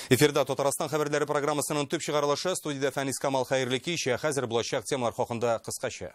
Эфирда Татарстан хәбәрләре программасының төп чыгарылышы студиядә Фәнис Камал хәерле кич. Хәзер булачак темалар хакында кыскача.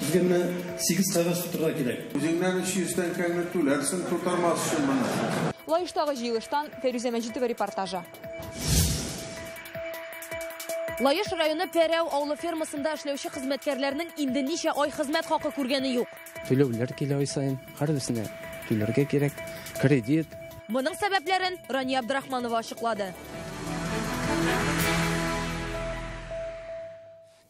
Безгә менә сигез кәгазь тутырырга кирәк. Үзеңнән 300 тәңкәңне түләрсең тутырмас өчен моны. Лаештагы җыелыштан Фәйрүзә Мәҗитова репортажы. Лаеш районы Пәрәү авылы фермасында эшләүче хезмәткәрләрнең инде ничә ай хезмәт хакы күргәне юк. Түләүләр килә ай саен, һәрберсенә түләргә кирәк, кредит. Моның сәбәпләрен Рания Абдрахманова ачыклады.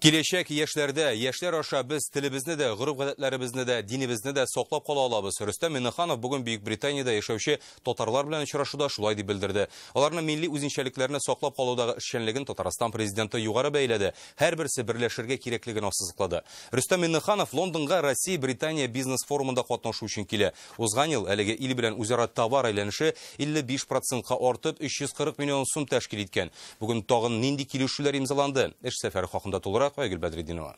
Киләчәк яшьләрдә, яшьләр аша без телебезне дә, гореф-гадәтләребезне дә, динебезне дә саклап кала алабыз. Рөстәм Миңнеханов бүген Бөекбританиядә яшәүче татарлар белән очрашуда шулай дип белдерде. Аларның милли үзенчәлекләрне саклап калудагы эшчәнлеген Татарстан Президенты югары бәяләде, һәрберсе берләшергә кирәклеген ассызыклады. Рөстәм Миңнеханов Лондонга Россия-Британия бизнес-форумында катнашу өчен килә. Узган ел әлеге ил белән үзара товар әйләнеше 55 процентка артып, 340 миллион сум тәшкил иткән. Бүген тагын нинди килешүләр имзаланды? Эш сәфәре хакында тулырак, Айгөл Бәдретдинова.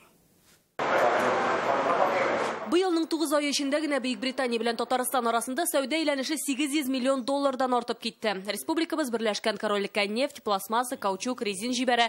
Быелның тугыз ае эчендә генә Бөекбритания белән Татарстан арасында сәүдә әйләнеше 800 миллион доллардан артып китте. Республикабыз Берләшкән Корольлеккә нефть, пластмасса, каучук, резин җибәрә.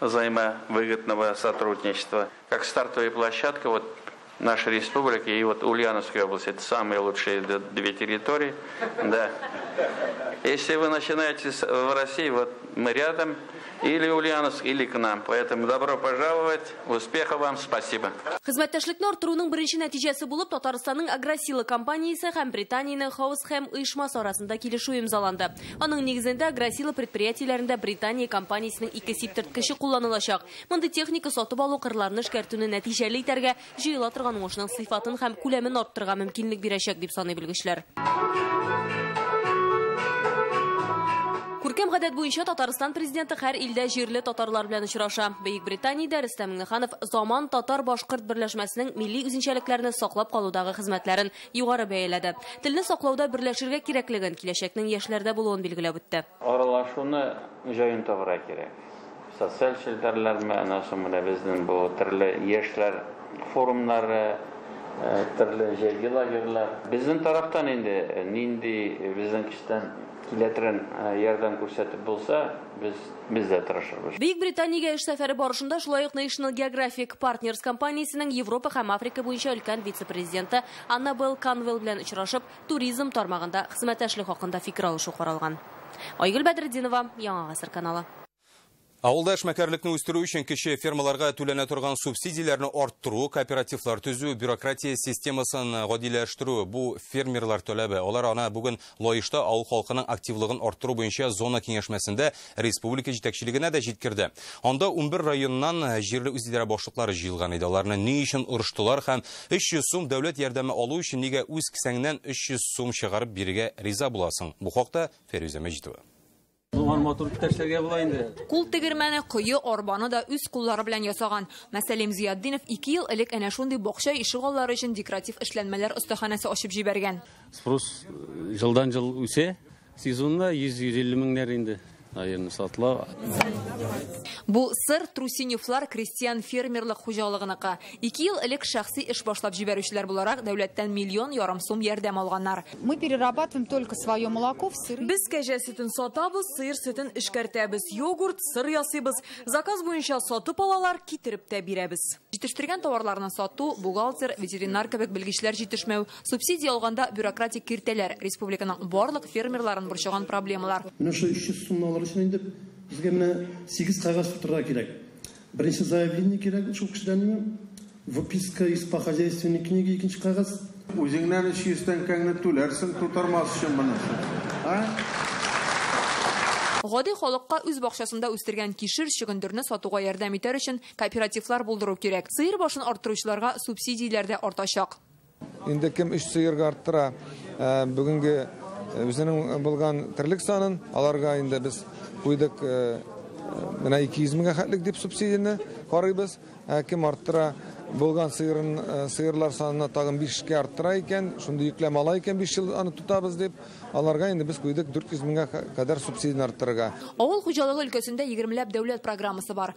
взаимовыгодного сотрудничества, как стартовая площадка вот нашей республики и вот Ульяновской области. Это самые лучшие две территории. Да. Если вы начинаете в России, вот мы рядом, или Ульяновск, или к нам. Поэтому добро пожаловать, успехов вам, спасибо. Хезмәттәшлекне арттыруның беренче нәтиҗәсе булып Татарстанның Агросила компаниясе һәм Британиянең Хаус Хэм оешмасы арасында килешү имзаланды. Аның нигезендә Грасила предприятиеләрендә Британия компаниясенең ике сиптырткычы кулланылачак. Мондый техника сатып алу кырларны эшкәртүне нәтиҗәле итәргә, җыела торган уңышның сыйфатын һәм күләмен арттырырга мөмкинлек бирәчәк, дип саный белгечләр. Күркәм гадәт буенча Татарстан Президенты һәр илдә җирле татарлар белән очраша. Бөек Британиядә Рөстәм Миңнеханов Заман татар-башкорт берләшмәсенең милли үзенчәлекләрне саклап калудагы хезмәтләрен югары бәяләде. Телне саклауда берләшергә кирәклеген, киләчәкнең яшьләрдә булуын билгеләп үтте. Аралашуны җаен табырга кирәк. Социаль челтәрләрме, аннан соң менә безнең бу төрле яшьләр форумнары, төрле җәйге лагерьлар. Безнең тарафтан инде нинди безнең көчтән. Киләтрен ярдәм күрсәтеп булса, без, без дә тырышырбыз. Бөек Британиягә эш сәфәре барышында шулай ук National Geographic Partners компаниясенең Европа һәм Африка буенча өлкән вице-президенты Аннабелл Канвелл белән очрашып, туризм тармагында хезмәттәшлек хакында фикер алышу каралган. Айгөл Бәдретдинова, Яңа гасыр каналы. Авылда эшмәкәрлекне үстерү өчен кече фермаларга түләнә торган субсидияләрне арттыру, кооперативлар төзү, бюрократия системасын гадиләштерү, бу, фермерлар таләбе. Алар ана бүген Лаешта авыл халкының активлыгын арттыру буенча зона киңәшмәсендә республика җитәкчелегенә дә җиткерде. Анда унбер районнан җирле үзидарә башлыклары җыелган иде. Аларны ни өчен орыштылар һәм 300 сум дәүләт ярдәме алу өчен нигә үз кесәңнән 300 сум чыгарып бирергә риза буласың? Бу хакта Фәрүзә Мәҗитова. Моңар матур иптәшләргә була инде. Кул тегермәне, кое, арбаны да үз куллары белән ясаган. Мәсәлим Зиятдинов ике ел элек әнә шундый бакча ишегаллары өчен декоратив эшләнмәләр остаханәсе ачып җибәргән. Спрос э, җылдан-җыл үсә. Сезонда 100-150 меңнәр инде аерым сатыла. Бу сыр Трусиневлар крестьян-фермерлык хуҗалыгыныкы. Ике ел элек шәхси эш башлап җибәрүчеләр буларак дәүләттән миллион ярым сум ярдәм алганнар. Мы перерабатываем только свое молоко в сыры. Без кәҗә сөтен сатабыз, сыер сөтен эшкәртәбез, йогурт, сыр ясыйбыз. Заказ буенча сатып алалар, китереп тә бирәбез. Җитештергән товарларны сату, бухгалтер, ветеринар кебек белгечләр җитешмәү, субсидия алганда бюрократик киртәләр, республиканың барлык фермерларын борчыган проблемалар. Менә шул 300 сумны алыр өчен инде безгә менә сигез кәгазь тутырырга кирәк. Беренче заявление кирәк шул кешедән миңа. Выписка из по хозяйственной книге икенче кәгазь. Үзеңнән 300 тәңкәңне түләрсең тутырмас өчен монысы. А? Гади халыкка үз бакчасында үстергән кишер, чөгендерне сатуга ярдәм итәр өчен кооперативлар булдыру кирәк. Сыер башын арттыручыларга субсидияләр дә артачак. Инде кем өч сыерга арттыра бүгенге үзенең булган терлек санын, аларга инде без куйдык менә 200 меңгә хәтлек дип субсидияне карыйбыз. Ә кем арттыра булган сыерын сыерлар санына тагын 5 кә арттыра икән, шундый йөкләмә ала икән 5 ел аны тотабыз дип, аларга инде без куйдык 400 меңгә кадәр субсидияне арттырырга. Авыл хуҗалыгы өлкәсендә егермеләп дәүләт программасы бар.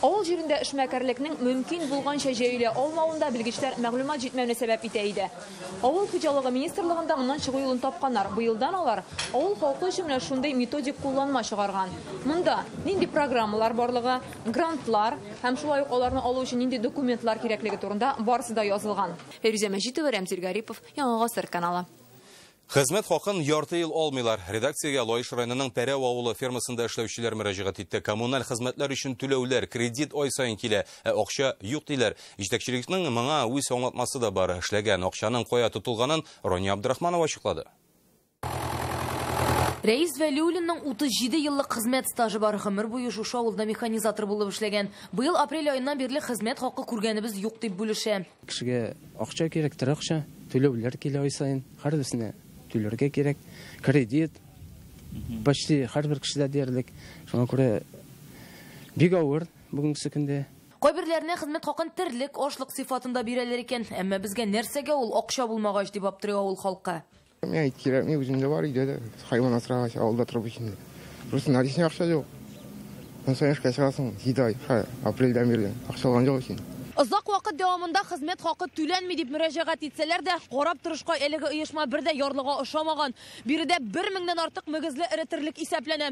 Авыл җирендә эшмәкәрлекнең мөмкин булганча җәелә алмавын да белгечләр мәгълүмат җитмәүне сәбәп итә иде. Авыл хуҗалыгы министрлыгында моннан чыгу юлын тапканнар, быелдан алар авыл халкы өчен менә шундый методик кулланма чыгарган. Монда нинди программалар барлыгы, грантлар һәм шулай ук аларны алу өчен нинди документлар кирәклеге турында барысы да язылган. Фәйрүзә Мәҗитова, Рәмзил Гарипов, Яңа гасыр каналы. Хезмәт хакын ярты ел алмыйлар. Редакциягә Лаеш районының Пәрәү авылы фермасында эшләүчеләр мөрәҗәгать итте. Коммуналь хезмәтләр өчен түләүләр, кредит ай саен килә, ә акча юк, диләр. Җитәкчелекнең моңа үз аңлатмасы да бар. Эшләгән акчаның кая тотылганын Рания Абдрахманова ачыклады. Рәис Вәлиуллинның 37 еллык хезмәт стажы бар. Гомер буе шушы авылда механизатор булып эшләгән. Быел апрель аеннан бирле хезмәт хакы күргәнебез юк, дип бүлешә. Кешегә акча кирәк, торакча, түләүләр килә ай саен. Һәрберсенә түләргә кирәк. Кредит почти һәрбер кешедә диярлек. Шуңа күрә бик авыр бүгенге көндә. Кайберләренә хезмәт хакын терлек, ашлык сыйфатында бирәләр икән. Әмма безгә нәрсәгә ул акча булмагач, дип аптырый авыл халкы. Миңа ит кирәкми, үземдә бар өйдә дә. Хайван асрагач, авылда торып өчен. Просто наличный акча юк. Сон соң эшкә чыгасың, җиде ай, апрельдән бирле. Акча алган юк өчен. Озак вакыт дәвамында хезмәт хакы түләнми дип мөрәҗәгать итсәләр дә, карап торышка әлеге оешма бер дә ярлыга ошамаган. Биредә бер меңнән артык мөгезле эретерлек исәпләнә.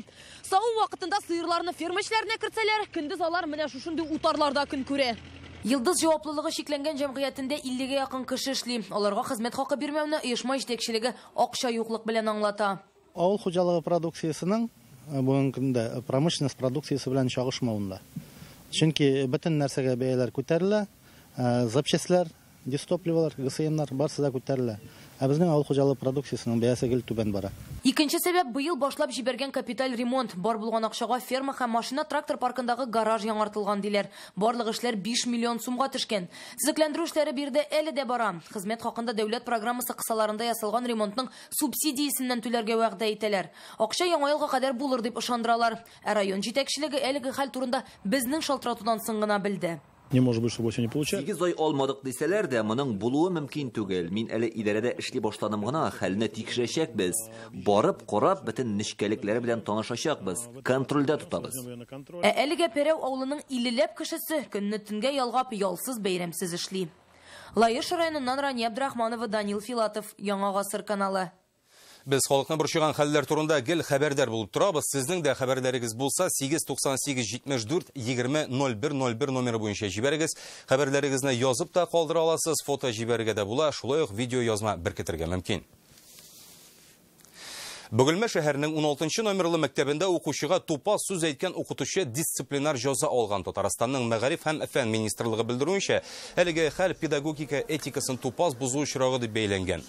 Саву вакытында сыерларны ферма эшләренә кертсәләр, көндез алар менә шушындый утарларда көн күрә. Йылдыз җаваплылыгы чикләнгән җәмгыятендә 50 гә якын кеше эшли. Аларга хезмәт хакы бирмәүне оешма җитәкчелеге акча юклык белән аңлата. Авыл хуҗалыгы продукциясенең э, бүгенге көндә э, промышленность продукциясе белән чагышмавында. Чөнки бөтен нәрсәгә бәяләр күтәрелә, э, запчастьләр, Дистопливалар, ГСМнар барсы да күтәрелә. Ә безнең авыл хуҗалыгы продукциясенең бәясе гел түбән бара. Икенче сәбәп, быел башлап җибәргән капиталь ремонт. Бар булган акчага ферма һәм машина-трактор паркындагы гараж яңартылган, диләр. Барлык эшләр биш миллион сумга төшкән. Төзекләндерү эшләре биредә әле дә бара. Хезмәт хакында дәүләт программасы кысаларында ясалган ремонтның субсидиясеннән түләргә вәгъдә итәләр. Акча Яңа елга кадәр булыр дип ышандыралар. Ә район җитәкчелеге әлеге хәл турында безнең шалтыратудан соң гына белде. Не может быть, чтобы у тебя не получа. Сигез ай алмадык дисәләр дә, моның булуы мөмкин түгел. Мин әле идарәдә эшли башланым гына, хәлне тикшерәчәкбез. Барып, карап, бөтен нечкәлекләре белән танышачакбыз, контрольдә тотабыз. Ә әлегә Пәрәү авылының иллеләп кешесе көнне төнгә ялгап, ялсыз-бәйрәмсез эшли. Лаеш районыннан Рания Абдрахманова, Данил Филатов, Яңа гасыр каналы. Без халыкны борчыган хәлләр турында гел хәбәрдар булып торабыз. Сезнең дә хәбәрләрегез булса, 898 74 20 01 01 номеры буенча җибәрегез. Хәбәрләрегезне язып та калдыра аласыз, фото җибәрергә дә була, шулай ук видеоязма беркетергә мөмкин. Бөгелмә шәһәренең 16 номерлы мәктәбендә укучыга тупас сүз әйткән укытучы дисциплинар җаза алган. Татарстанның мәгариф һәм фән министрлыгы белдерүенчә, әлеге хәл педагогика этикасын тупас бозу очрагы дип бәйләнгән.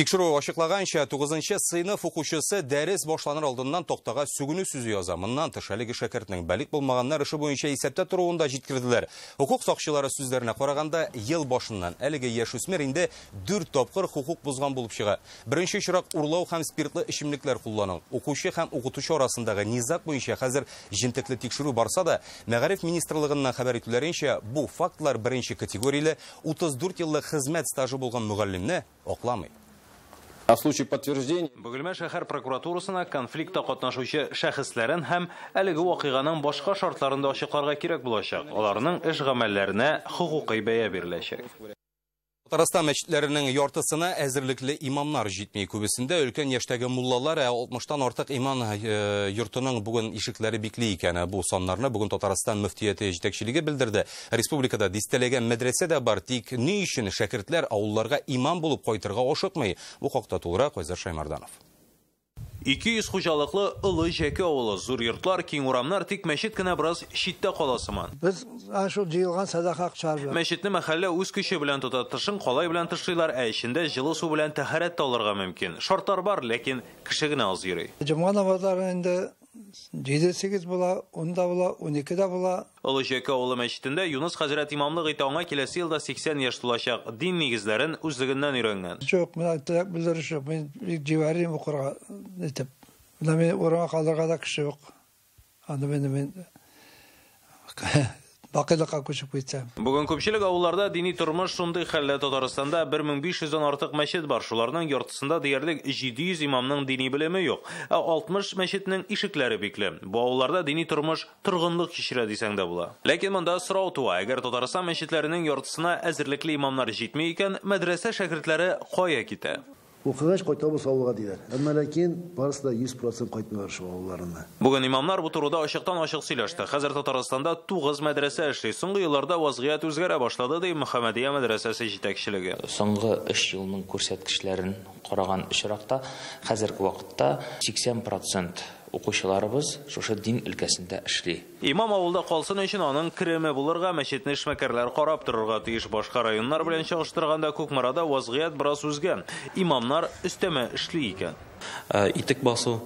Тикшерү ачыклаганча, 9 сыйныф укучысы дәрес башланыр алдыннан тактага сүгенү сүзе яза. Моннан тыш, әлеге шәкертнең балигъ булмаганнар эше буенча исәптә торуын да җиткерделәр. Хокук сакчылары сүзләренә караганда, ел башыннан әлеге яшүсмер инде дүрт тапкыр хокук бозган булып чыга. Беренче очрак урлау һәм спиртлы эчемлекләр куллану. Укучы һәм укытучы арасындагы низаг буенча хәзер җентекле тикшерү барса да, Мәгариф министрлыгыннан хәбәр итүләренчә, бу фактлар беренче категорияле 34 еллык хезмәт стажы булган мөгаллимне акламый. На случай подтверждения Бөгелмә шәһәр прокуратурасына конфликтта катнашучы шәхесләрен һәм әлеге вакыйганың башка шартларын да ачыкларга кирәк булачак, аларның эш-гамәлләренә хокукый бәя биреләчәк. Татарстан мәчетләренең яртысына әзерлекле имамнар җитми. Күбесендә өлкән яшьтәге муллалар, ә 60 тан артык иман йортының бүген ишекләре бикли икән. Бу саннарны бүген Татарстан мөфтияте җитәкчелеге белдерде. Республикада дистәләгән мәдрәсә дә бар, тик ни өчен шәкертләр авылларга имам булып кайтырга ашыкмый? Бу хакта тулырак Айзат Шаймарданов. Ике йөз хуҗалыклы Олы Җәке авылы, зур йортлар, киң урамнар, тик мәчет кенә бераз читтә кала сыман. Без әнә шул җыелган сәдака акчалар белән. Мәчетне мәхәллә үз көче белән тота, тышын калай белән тышлыйлар, ә эчендә җылы су белән тәһарәт тә алырга мөмкин. Шартлар бар, ләкин кеше генә аз йөри. Җомга намазлары инде җиде-сигез була, ун да була, унике дә була. Олы Җәке авылы мәчетендә Юныс хәзрәт имамлык итә, аңа киләсе елда 80 яшь тулачак. Дин нигезләрен үзлегеннән өйрәнгән. Юк, мин аңа теләк белдерүче юк, мин бик җибәрим укырга итеп. Менә мине урынга калдырырга да кеше юк. Анда мине мин бакыйлыкка күчеп китсәм. Бүген күпчелек авылларда дини тормыш шундый хәлдә, Татарстанда 1500 дән артык мәчет бар, шуларның яртысында диярлек 700 имамның дини белеме юк, ә 60 мәчетнең ишекләре бикле. Бу авылларда дини тормыш Торгынлык кичерә дисәң дә була. Ләкин монда сорау туа, әгәр Татарстан мәчетләренең яртысына әзерлекле имамнар җитми икән, мәдрәсә шәкертләре кая китә? Укыгач кайтабыз авылга, диләр. Әмма ләкин барысы да 100 процент кайтмыйлар шул авылларына. Бүген имамнар бу турыда ачыктан-ачык сөйләште. Хәзер Татарстанда тугыз мәдрәсә эшли. Соңгы елларда вазгыять үзгәрә башлады, ди Мөхәммәдия мәдрәсәсе җитәкчелеге. Соңгы өч елның күрсәткечләрен караган очракта, хәзерге вакытта 80 процент Укучыларыбыз шушы дин өлкәсендә эшли. Имам авылда калсын өчен аның кереме булырга, мәчетне эшмәкәрләр карап торырга тиеш. Башка районнар белән чагыштырганда Кукмарада вазгыять бераз үзгә. Имамнар өстәмә эшли икән. Итек басу,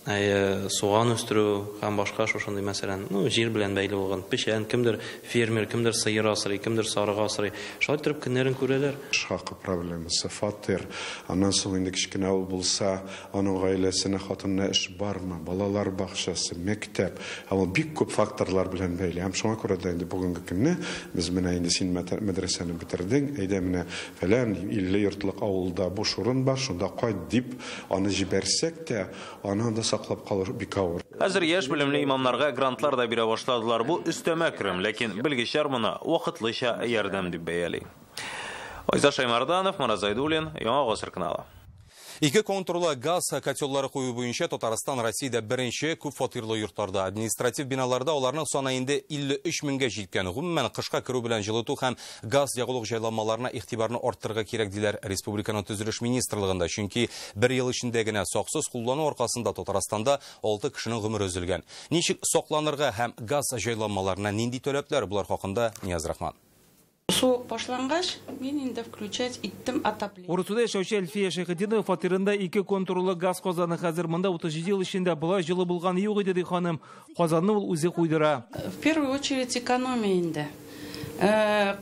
суган үстерү һәм башка шушындый мәсәлән, ну, җир белән бәйле булган, печән, кемдер фермер, кемдер сыер асрый, кемдер сарык асрый. Шулай торып көннәрен күрәләр. Эш хакы проблемасы, фатир, аннан соң инде кечкенә авыл булса, Аның гаиләсенә, хатынына эш бармы, балалар бакчасы, мәктәп, һәм ул бик күп факторлар белән бәйле. Һәм шуңа күрә дә инде бүгенге көнне без менә инде син мәдрәсәне бетердең, әйдә менә фәлән илле йортлык авылда буш урын бар, шунда кайт, дип аны җибәрсәк тә, аны анда саклап калу бик авыр. Хәзер яшь белемле имамнарга грантлар да бирә башладылар, бу өстәмә керем, ләкин белгечләр моны вакытлыча ярдәм дип бәяли. Айза Шәймарданов, Марат Зайдуллин, Яңа гасыр каналы. Ике контурлы газ котеллары кую буенча Татарстан Россиядә беренче, күп фатирлы йортларда, административ биналарда аларның саны инде 53 меңгә җиткән. Гомумән, кышка керү белән җылыту һәм газ ягулык җайланмаларына игътибарны арттырырга кирәк, диләр республиканың төзелеш министрлыгында. Чөнки бер ел эчендә генә саксыз куллану аркасында Татарстанда алты кешенең гомере өзелгән. Ничек сакланырга һәм газ җайланмаларына нинди таләпләр, болар хакында Нияз Рахман. Суык башлангач, мин инде включать иттем отопление. Урусуда яшәүче Әлфия Шәйхетдинова фатирында ике контурлы газ казаны. Хәзер монда 37 ел эчендә болай җылы булганы юк иде, ди ханым. Казанны ул үзе куйдыра. В первую очередь экономия инде.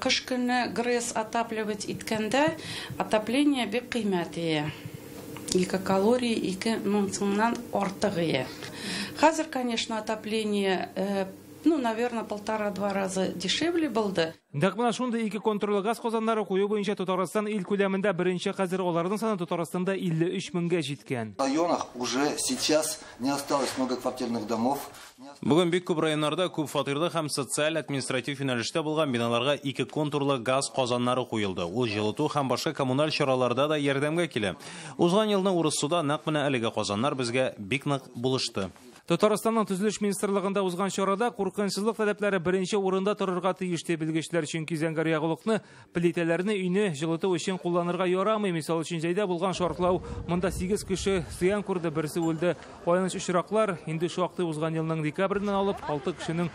Кыш көне ГРЭС отапливать иткәндә, отопление бик кыйммәт ия. Ике калорий, ике мең сумнан артык ия. Хәзер, конечно, отопление Ну, наверное, полтора-два раза дешевле булды. Нәкъ менә шундый ике контурлы газ казаннары кую буенча Татарстан ил күләмендә беренче хәзер аларның саны Татарстанда 53 меңгә җиткән. В районах уже сейчас не осталось многоквартирных домов. Бүген бик күп районнарда күп фатирлы һәм социаль-административ юнәлештә булган биналарга ике контурлы газ казаннары куелды. Ул җылыту һәм башка коммуналь чараларда да ярдәмгә килә. Узган елны Урыссуда нәкъ менә әлеге казаннар безгә бик нык булышты. Татарстанның төзелеш министрлыгында узган чарада куркынычсызлык таләпләре беренче урында торырга тиеш ди белгечләр, чөнки зәңгәр ягулыкны, плитәләрне өйне җылыту өчен кулланырга ярамый. Мисал өчен җәйдә булган шартлау, монда 8 кеше зыян күрде, берсе үлде. Аяныч очраклар, инде шактый узган елның декабреннән алып 6 кешенең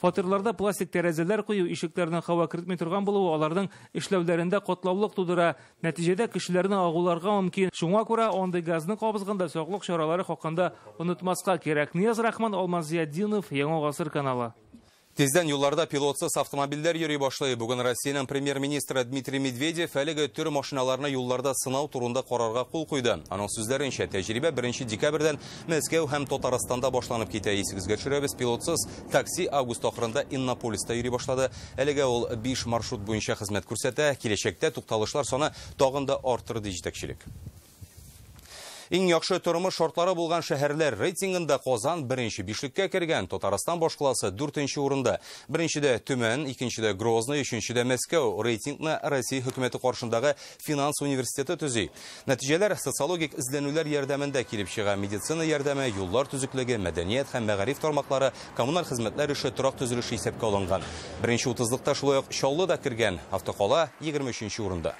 Фатирларда пластик тәрәзәләр кую, ишекләрнең һава кертми торган булуы аларның эшләүләрендә катлаулык тудыра. Нәтиҗәдә кешеләрне агуларга мөмкин. Шуңа күрә андый газны кабызганда саклык чаралары хакында онытмаска кирәк. Нияз Рахман, Алмаз Зиятдинов, Яңа гасыр каналы. Тиздән юлларда пилотсыз автомобильләр йөри башлый. Бүген Россиянең премьер-министры Дмитрий Медведев әлеге төр машиналарны юлларда сынау турында карарга кул куйды. Аның сүзләренчә, тәҗрибә беренче декабрьдән Мәскәү һәм Татарстанда башланып китә, исегезгә төшерәбез, пилотсыз такси август ахырында Иннополиста йөри башлады. Әлегә ул биш маршрут буенча хезмәт күрсәтә. Киләчәктә тукталышлар саны тагын да артыр, ди җитәкчелек. Иң яхшы тормыш шартлары булган шәһәрләр рейтингында Казан беренче бишлеккә кергән, Татарстан башкаласы дүртенче урында. Беренчедә Төмән, икенчедә Грозный, өченчедә Мәскәү. Рейтингны Россия хөкүмәте каршындагы финанс университеты төзи. Нәтиҗәләр социологик эзләнүләр ярдәмендә килеп чыга. Медицина ярдәме, юллар төзеклеге, мәдәният һәм мәгариф тармаклары, коммуналь хезмәтләр эше, торак төзелеше исәпкә алынган. Беренче утызлыкта шулай ук Чаллы да кергән. Автокала 23 урында.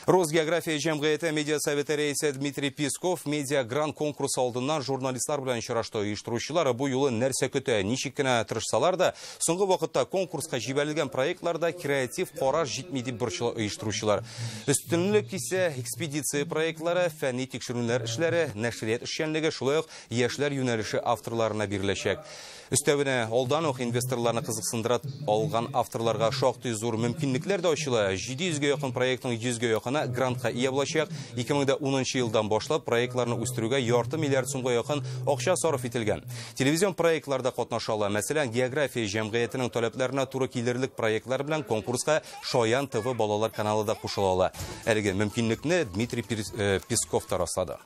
Росгеография җәмгыяте медиа советы рәисе Дмитрий Песков медиа гран конкурсы алдыннан журналистлар белән очрашты. Оештыручылар бу юлы нәрсә көтә, ничек кенә тырышсалар да, Соңгы вакытта конкурска җибәрелгән проектларда креатив карар җитми дип борчыла оештыручылар. Өстенлек исә экспедиция проектлары, фәнни тикшерүләр эшләре, нәшрият эшчәнлеге, шулай ук яшьләр юнәлеше авторларына биреләчәк. Өстәвенә, алдан ук инвесторларны кызыксындыра алган авторларга шактый зур мөмкинлекләр дә ачыла. 700 гә якын проектның 100 гә якыны грантка ия булачак. 2010 елдан башлап проектларны үстерүгә ярты миллиард сумга якын акча сарыф ителгән. Телевизион проектлар да катнаша ала. Мәсәлән, география җәмгыятенең таләпләренә туры килерлек проектлар белән конкурска Шаян ТВ балалар каналы да кушыла ала. Әлеге мөмкинлекне Дмитрий э, Песков та раслады.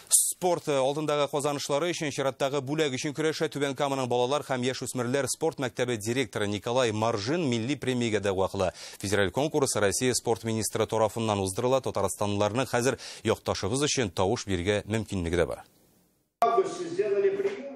Спорт э, алдындагы казанышлары өчен чираттагы бүләк өчен көрәшә Түбән Каманың балалар һәм яшь үсмерләр спорт мәктәбе директоры Николай Маржин милли премиягә дәгъва кыла. Федераль конкурс Россия спорт министры тарафыннан уздырыла. Татарстанлыларның хәзер якташыбыз өчен тавыш бирергә мөмкинлеге дә бар.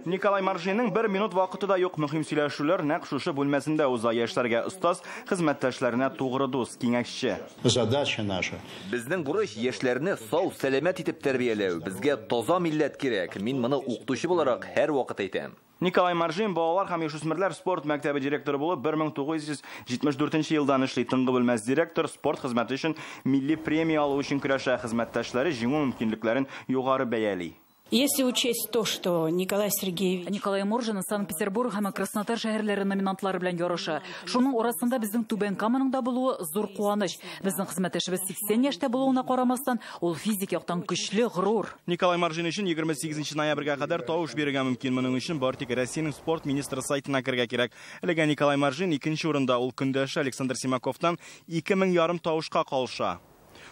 Николай Маржинның бер минут вакыты да юк. Мөһим сөйләшүләр нәкъ шушы бүлмәсендә уза. Яшьләргә остаз, хезмәттәшләренә тугры дус, киңәшче. Задача наша. Безнең бурыч яшьләрне сау, сәламәт итеп тәрбияләү. Безгә таза милләт кирәк. Мин моны укытучы буларак һәрвакыт әйтәм. Николай Маржин балалар һәм яшүсмерләр спорт мәктәбе директоры булып 1974 елдан эшли, тынгы белмәс директор, спорт хезмәте өчен милли премия алу өчен көрәшә, хезмәттәшләре җиңү мөмкинлекләрен югары бәяли. Если учесть то, что Николай Сергеевич. Николай Моржин Санкт-Петербург һәм Краснодар шәһәрләре номинантлары белән ярыша. Шуның арасында безнең Түбән Каманың да булуы зур куаныч. Безнең хезмәттәшебез 80 яшьтә булуына карамастан, ул физик яктан көчле, горур. Николай Маржин өчен 28 ноябрьгә кадәр тавыш бирергә мөмкин. Моның өчен бары тик Россиянең спорт министры сайтына керергә кирәк. Әлегә Николай Маржин икенче урында, ул көндәше Александр Симаковтан 2000 ярым тавышка калыша.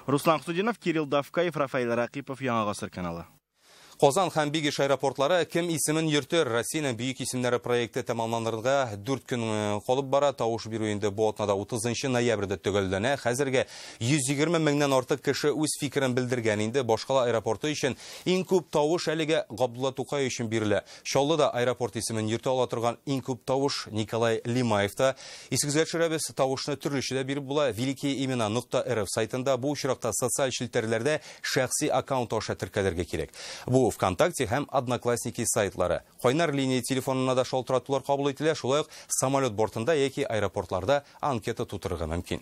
Руслан Хусудинов, Кирилл Давкаев, Рафаэль Ракыпов, Яңа гасыр каналы. Казан һәм Бигиш аэропортлары Кем исемен йөртер? Россиянең бөек исемнәре проекты тәмамланырга дүрт көн э, калып бара. Тавыш бирү инде бу атнада 30 ноябрьдә төгәлләнә. Хәзергә 120 меңнән артык кеше үз фикерен белдергән инде. Башкала аэропорты өчен иң күп тавыш әлегә Габдулла Тукай өчен бирелә. Чаллыда аэропорт исемен йөртә ала торган иң күп тавыш Николай Лимаевта. Исегезгә төшерәбез, тавышны төрлечә дә биреп була. Великие имена нокта рф сайтында, бу очракта социаль челтәрләрдә шәхси аккаунт аша теркәлергә кирәк. Бу Вконтакте һәм Одноклассники сайтлары. Кайнар линия телефонына да шалтыратулар кабул ителә, шулай ук самолет бортында яки аэропортларда анкета тутырырга мөмкин.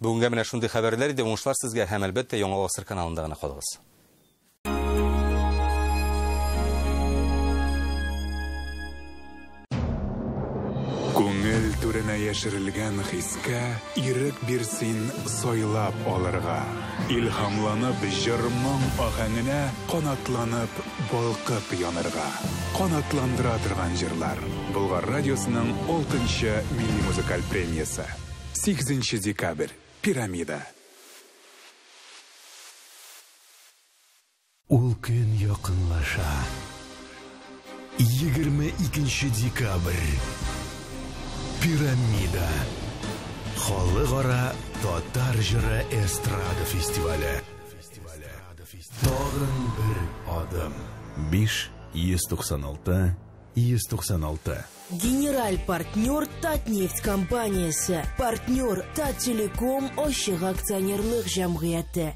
Бүгенгә менә шундый хәбәрләр иде, уңышлар сезгә һәм әлбәттә Яңа Гасыр каналында гына калыгыз. Күңел түренә яшерелгән хискә ирек бир син сайлап алырга. Илһамланып җыр-моң аһәңенә канатланып балкып янырга. Канатландыра торган җырлар. Болгар радиосының алтынчы милли музыкаль премиясе. Сигезенче декабрь. Пирамида. Ул көн якынлаша. Егерме икенче декабрь. Пирамида. Халыкара татар җыры эстрада фестивале. Тагын бер адым. Биш, йөз туксан алты, йөз туксан алты. Генераль партнер Татнефть компаниясе, партнер Таттелеком ачык акционерлык җәмгыяте.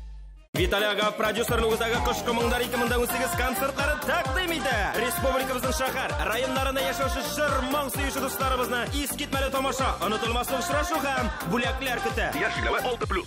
Виталий Агав продюсерлы үзәге кышкы моңнар 2018 концертларын тәкъдим итә. Республикабызның шәһәр, районнарында яшәүче жыр, моң сөюче дусларыбызны искитмәле тамаша, онытылмаслык очрашу һәм бүләкләр көтә. Яшь 6+.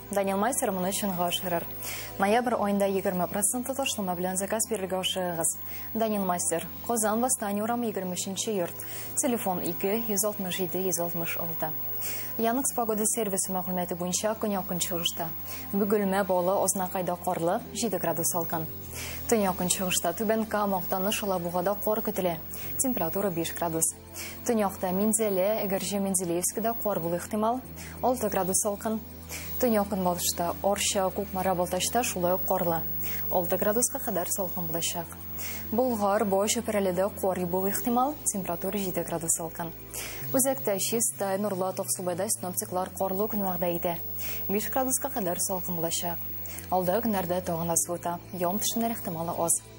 Данил Мастер моны чынга ашырыр. Ноябрь айында 20% ташлама белән заказ бирергә ашыгыгыз. Данил Мастер, Казан Восстание урамы 23 йорт. Телефон 2 167 166. Яныкс погода сервисы мәгълүматы буенча көньякын чыгышта. Бөгелмә балы Ознакайда карлы 7 градус салкын. Төньякын чыгышта Түбән Кама, Актаныш, Алабугада кар көтелә. Температура 5 градус. Төньякта Минзәлә, Әгерҗе Менделеевскида кар булу ихтимал, 6 градус салкын. Төньяк көнбатышта Орча, Кукмара, Балтачта шулай ук карлы. 6 градуска кадәр салкын булачак. Болгар, Бой чөпрәледә кар булу ихтимал, температура 7 градус салкын. Үзәктә Чистай, Нурлы Токсубайда синоптиклар карлы көн вәгъдә итә. 5 градуска кадәр салкын булачак. Алда көннәрдә тагын да суыта, ян төшемнәр ихтималы аз.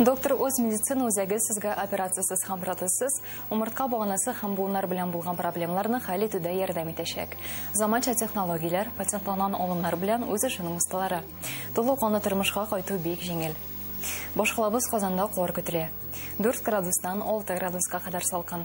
Доктор үз медицина үзәге сезгә операциясез һәм протезсыз умыртка баганасы һәм буыннар белән булган проблемаларны хәл итүдә ярдәм итәчәк. Заманча технологияләр, патентланган алымнар белән үз эшенең осталары. Тулы канлы тормышка кайту бик җиңел. Башкалабыз Казанда кар көтелә. 4 градустан 6 градуска кадәр салкын.